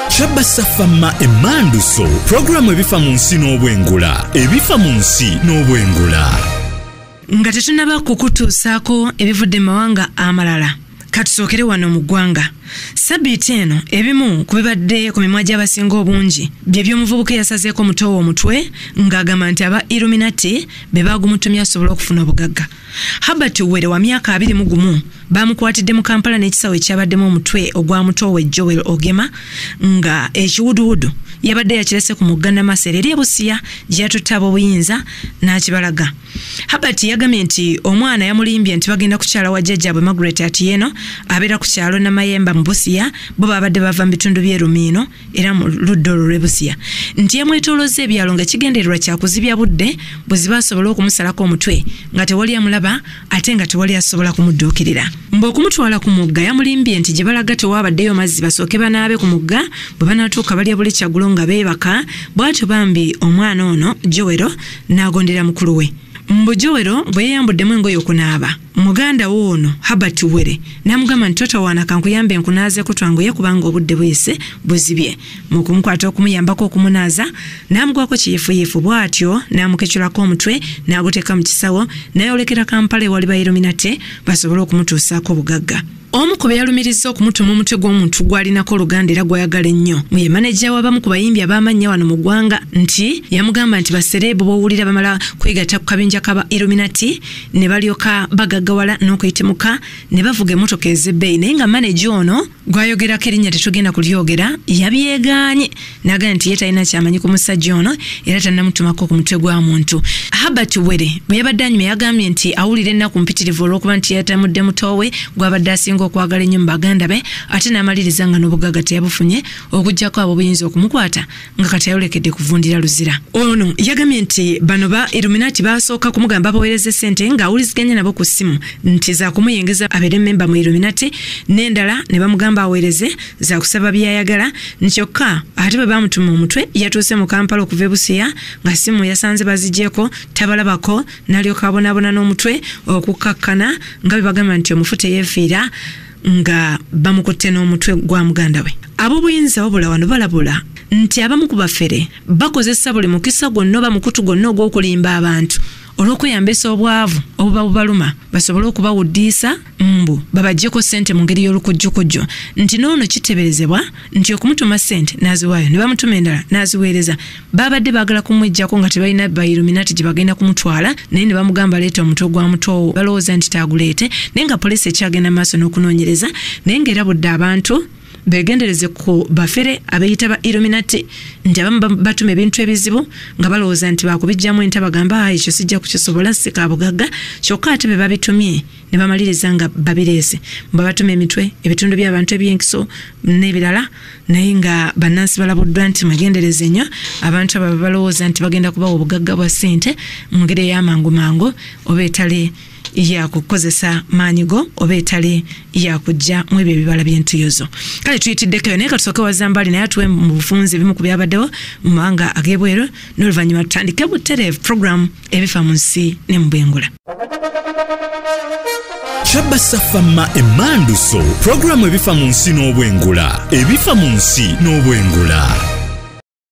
kyabba safamma emmanduso pulogulaamu ebifa mu nsi n'obwengula ebifa mu nsi n'obwengula nga tetunaba kukutuusaako ebivudde mu mawanga amalala katusookere wano mu ggwanga sabiiti eno ebimu ku bibadde ku mimwa gy'abasinga obungi bye by'omuvubuka eyasazeeko omutoowo omutwe ng'agamba nti aba illuminati be baagumutumya asobole okufuna obugagga Herbert Uwere wa myaka abiri mu gumu baamukwatidde mu Kampala n'ekisawo ekyabaddemu omutwe ogwa mutoowe Joel Ogema nga ekiwuduwudu yabadde yakirese ku mugga Namasere eri ebusiya gye yatutte ab'obuyinza n'akibalaga. Herbert yagambye nti omwana yamulimbye nti bagenda kukyala wa jjajjaabwe Margaret Atieno abeera ku kyalo Namayemba mu Busia bo baabadde bava mu bitundu by'e Rumiino era mu ludda olwo lwebusiya nti yamwetolozza ebyalo nga kigendererwa kyakuzibya budde bweziba asobole okumusalako omutwe nga tewali amulaba ate nga tewali asobola kumudduukirira mbu okumutwala ku mugga yamulimbye nti gye balaga tewaabaddeyo mazzi basooke banaabe ku mugga bwe banaatuuka balya buli kyagulo nga beebaka bw'atyo bambi omwana ono jowero n'agondera mukulu we mbu jowero bwe yeyambuddemu engoye okunaaba muganda wo ono Herbert Were namugamba nti totawaana kankuyambe nkunaazeko twanguye kubanga obudde buyise buzibye mu kumukwata okumuyambako okumunaaza n'amugwako kiyifuyifu bw'atyo n'amukecurako omutwe n'aguteeka mu kisawo n'ayolekera Kampala ewali bayiruminate basobole okumutuusaako obugagga omu ku beyalumirizza okumutuma omutwe gw'omuntu gwalinako oluganda era gwayagala ennyo muye maneja w'abamu ku bayimbi ab'amannya wano mu ggwanga nti yamugamba nti basereebu b'owulira bamala kwegatta ku kabinja kaba illuminati ne balyoka bagaggawala n'okuyitimuka ne bavuga emotoka ez'ebbeeyi naye nga maneja ono gwayogerako erinnya tetugenda kulyogera yabyegaanye nagana nti ye talina kyamanyi ku musajja ono era tanamutumako ku mutwe gwa muntu habert were bwe yabadde anyuma yagambye nti awulira ennaku mpitirivu olwokuba nti yatamudde mutowe gwabadde asinga okwagala ennyo mu baganda be ate n'amaliriza nga n'obuggaga teyabufunye okugyako abo buyinza okumukwata nga kati ayolekedde kuvundira luzira ono yagambye nti bano ba iluminati basooka kumugamba baweereze sente ng'awuliziganya nabo ku ssimu nti zakumuyingiza abeere memba mu iluminati n'endala ne bamugamba aweereze zakusaba byayagala nkyokka ate bwe bamutuma omutwe yatuuse mu kampala okuva ebusiya nga simu yasanze bazigyeko tabalabako nalyoka abonabona n'omutwe okukkakkana nga bwe bagamba nti omufu teyeefiira nga bamukutte n'omutwe gwa muganda we ab'obuyinza wabula wano balabula nti abamu ku bafere bakozesa buli mukisa gwonna oba mukutu gwonna ogw'okulimba abantu olw'okweyambisa obwavu obuba bubaluma basobole okubawuddiisa mbu babajjeko ssente mu ngeri y'olukujjukujju nti n'ono kiteberezebwa nti okumutuma ssente n'aziwaayo ne bamutuma endala n'aziweereza baabadde baagala kumwejjako nga tebalina bairuminati gye bagenda kumutwala naye ne bamugamba leeta omutwe gwa mutoowo balowooza nti taaguleete naye nga poliisi ekyagenda maaso n'okunoonyereza naye ng'erabudde abantu begendereze ku bafere abeyita ba illuminati nti abamu batuma ebintu ebizibu nga balowooza nti bakubijjamu enta bagamba ah, ekyo sijja kukisobola sika bugagga kyokka ate be babitumye ne bamaliriza nga babireese mba batuma emitwe ebitundu by'abantu ebyenkiso n'ebirala naye nga bannansi balabuddwa nti mwegendereze nnyo abantu abo balowooza nti bagenda kubawa obugagga bwa ssente mu ngeri ey'amangu mangu oba etali yakukozesa maanyi go oba etali yakujja mu ebyo ebibala by'entuyozo kale tuyitiddeko eyo naye katusooke wazambaali naye atuwe mu bufunzi ebimu ku byabaddewo mu mawanga ag'ebweru n'oluvannyuma tutandike butereevu puroguramu ebifa mu nsi ne mu bwengula kyabasa fama emanduso puroguramu ebifa mu nsi n'obwengula ebifa mu nsi n'obwengula